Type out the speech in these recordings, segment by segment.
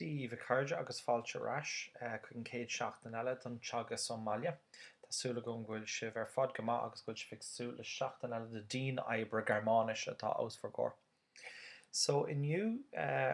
Dia dhíbh a chairde agus fáilte ar ais chuig an chéad seachtain eile don teagasc ón mbaile. Tá súil agam go bhfuil sibh ar fad go maith agus go bhfuil sibh ag súil le seachtain eile de dian oibre Gearmáinise atá os bhur gcomhair. So inniu eh.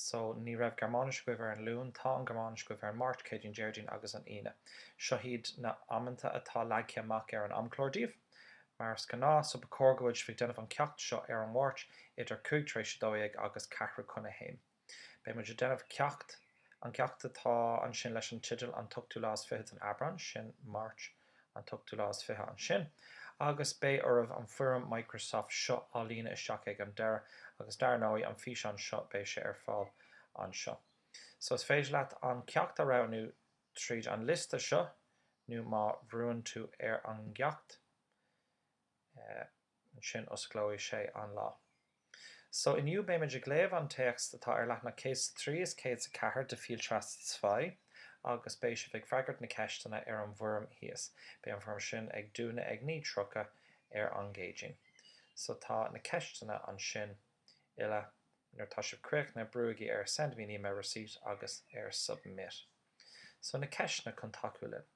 So, ní raibh Gearmáinis agaibh ar an Luan, tá an Ghearmáinis agaibh ar an Máirt, Céadaoin, Déardaoin agus an Aoine. Seo iad na amanta atá leagtha amach ar an amchlár daoibh, mar is gnáth, so ba chóir go bhfuil sibh ag déanamh an ceacht seo ar an Mháirt idir cúig tar éis a dó dhéag agus ceathrú chun a haon. Beidh muid ag déanamh ceacht, an ceacht atá ansin leis an teideal An t-ochtú lá is fiche den Aibreán, sin Máirt. An t-ochtú lá is fiche ansin agus beidh oraibh an foirm Microsoft seo a líonadh isteach ag an deireadh agus dar ndóigh an físeán seo beidh sé ar fáil anseo so is féidir leat an ceacht a roghnú tríd an liosta seo nó má bhrúann tú ar an gceacht ansin osclóidh sé an lá. So inniu beidh muid ag léamh an téacs atá ar leathanach 103 is 104 de Viel Spaß zwei agus beidh sibh ag freagairt na ceisteanna ar an bhfoirm thíos. Beidh an foirm sin ag dúnadh ag 9:30 ar an gCéadaoin. So tá na ceisteanna ansin uile nuair atá sibh críochnaithe brúigí ar Send me an email receipt agus ar Submit. So na ceisteanna chun tacú linn.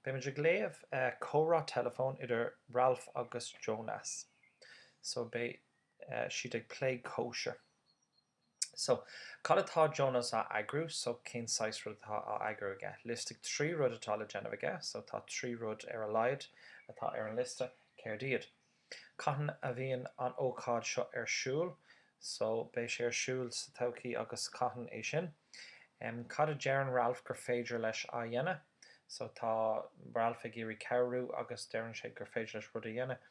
Beidh muid ag léamh comhrá teileafóin idir Ralph agus Jonas. So, beidh siad ag plé cóisir. So, cad atá Jonas á eagrú? So, cén saghas rud atá á eagrú aige? Liostaigh trí rud atá le déanamh aige. So, tá trí rud ar a laghad atá ar an liosta. Céard iad? Cathain a bheidh an ócáid seo ar siúl? So, beidh sé ar siúl sa todhchaí agus cathain é sin? Em, cad a deireann Ralph gur féidir leis a dhéanamh? So, tá Ralph ag iarraidh cabhrú agus deireann sé gur féidir leis rud a dhéanamh.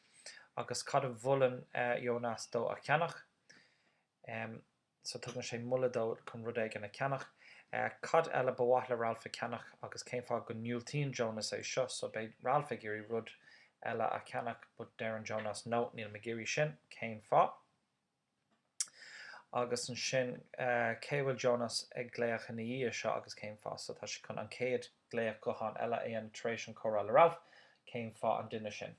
Agus cad a mholann Jonas dó a cheannach? Em. so tugann sé moladh dó chun rud éigin a cheannach. Cad eile ba mhaith le Ralph a cheannach agus cén fáth go ndiúltaíonn Jonas é seo? So beidh Ralph ag iarraidh rud eile a cheannach but deireann Jonas No, níl mé ag iarraidh sin, cén fáth? Agus ansin cé a bhfuil Jonas ag glaoch ina dhiaidh seo agus cén fáth? So tá sé chun an chéad glaoch gutháin eile a dhéanamh tar éis an comhrá le Ralph, cén fáth an duine sin?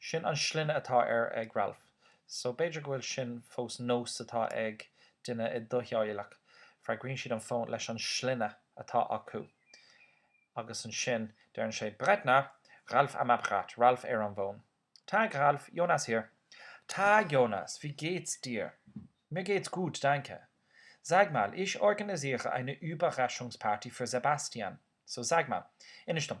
Sin an sloinne atá air ag Ralph, so b'fhéidir go bhfuil sin fós nós atá ag duine i do theaghlach, freagraíonn siad an fón leis an sloinne atá acu. Agus ansin deireann sé Brettner, Ralph am Apparat, Ralph ar an bhfón. Tag, Ralph, Jonas hier. Tag, Jonas, wie geht's dir? Mir geht's gut, danke. Sag mal, ich organisiere eine Überraschungsparty für Sebastian, so sag mal, inis dom,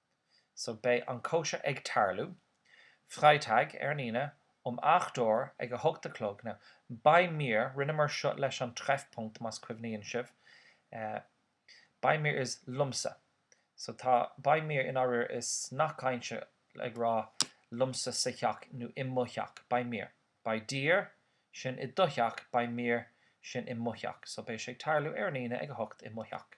So beidh an cóisir ag tarlú, Freitag, ar an Aoine, um acht uair, ag a hocht a chlog. Now, bei mir, rinneamar seo leis an Treffpunkt, más cuimhníonn sibh, eh, bei mir is liomsa, so tá bei mir, i ndáiríre, is nath cainte ag rá liomsa sa theach nó i mo theach, bei mir, bei dir, sin i do theach, bei mir, sin i mo theach, so beidh sé ag tarlú ar an Aoine ag a hocht i mo theach.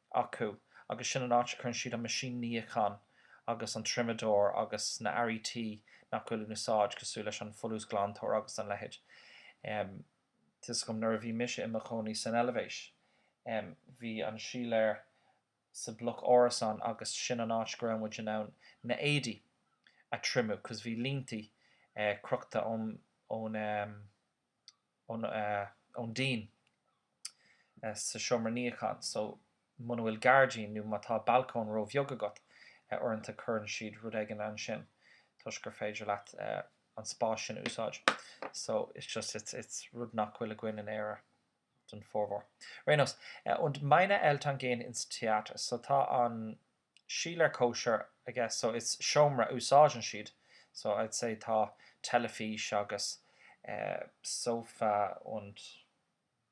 acu agus sin an áit a chuireann siad an meaisín níocháin agus an triomadóir agus na earraí tí nach bhfuil in úsáid cosúil leis an folúsghlantóir agus an leithéid. Em. Tá fhios agam nuair a bhí mise i mo chónaí san Eilbhéis, em, bhí an síléar sa bloc árasán agus sin an áit go raibh muid in ann na éadaí a thriomú cos bhí líntí, eh, crochta ón, ón, em, ón díon sa seomra níocháin so muna bhfuil gairdín nó má tá balcóin ró-bheag agat uaireanta cuireann siad rud éigin ansin toisc gur féidir leat an spás sin a úsáid so it's just it's it's rud nach bhfuil againn in Éire den formhór. Ar aon nós, und meine Eltern gehen ins Theater so tá an síléar cóisir I guess so it's seomra a úsáideann siad so I'd say tá teilifís agus sofa and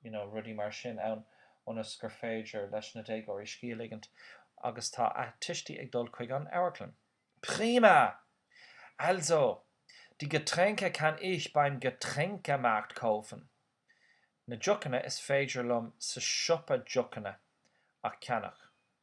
you know rudaí mar sin ann ionas gur féidir leis na déagóirí scíth a ligint agus tá a tuistí ag dul chuig an amharclann. Prima! Also, die Getränke kann ich beim Getränkemarkt kaufen. Na deochanna is féidir liom sa siopa deochanna a cheannach.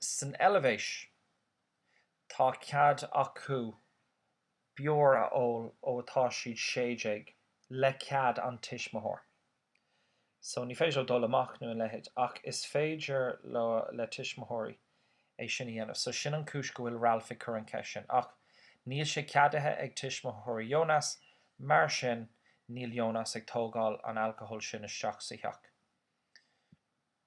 San Eilvéis, tá cead acu beoir a ól ó tá siad sé déag, le cead an tuismitheoir. So, ní féidir leo dul amach nó an leithéid, ach is féidir le tuismitheoirí é sin a dhéanamh. So, sin an chúis go bhfuil Ralph ag cur an cheist sin. Ach, níl sé ceadaithe ag tuismitheoirí Jonas, mar sin, níl Jonas ag tógáil an alcohol sin isteach sa theach.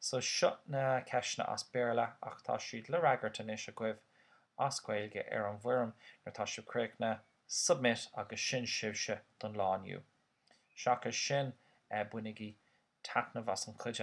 So seo na ceisteanna as Béarla ach tá siad le freagairt anois agaibh as Gaeilge ar an bhfoirm nuair atá siad críochnaithe, submit agus sin sibhse don lá inniu. Seachas sin, bainigí taitneamh as an chuid eile.